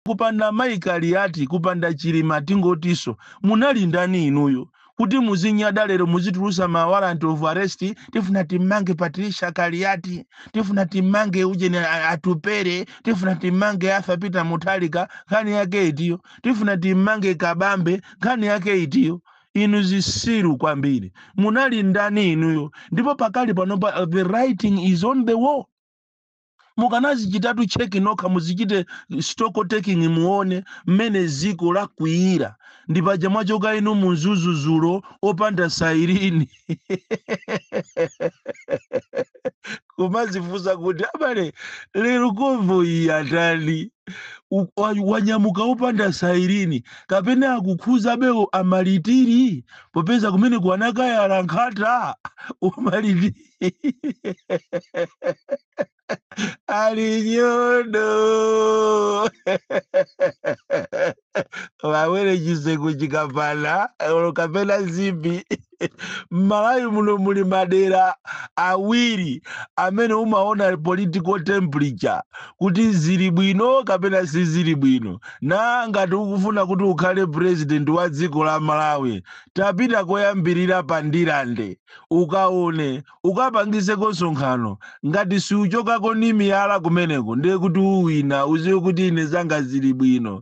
kupanda mayi kaliati kupanda chilima tingotiso munali ndani inuyo kuti muzinyada lero muzitulusa ma warrant of arrest tifuna timmange patricia kaliati tifuna timmange ujeni a- a- atupere tifuna timmange arthur peter mutharika nkhani yake itiyo tifuna timmange kabambe nkhani yake itiyo inu zisiru kwambiri munali ndani inuyo ndipo pakali panopa uh, the writing is on the wall mukanazichitatu tcheki nokha muzichite stock taking muone mmene ziko lakwiyira ndi paja mwachoka inu munzuzu zulo opanda sailini kumazifunsa kuti abale lero konvoyi atani U- wa- wanyamuka opanda sailini kapena akukhuza abewo amalitiri popeza kumene ku anakayala nkhata umalitiri Ali nyodo. Wawere chiseko chikapana kapena zipi. M'Malawi muno muli madera awiri amene umaona political temperature kuti zili bwino kapena sizili bwino. Na ngati ukufuna kuti ukhale president wa dziko la Malawi, tapita koyambirira pa Ndirande. ukaone ukapangizeko nsonkhano ngati suchokako ni miyala kumeneko ndiye kuti uwina uziwe kuti ine zanga zili bwino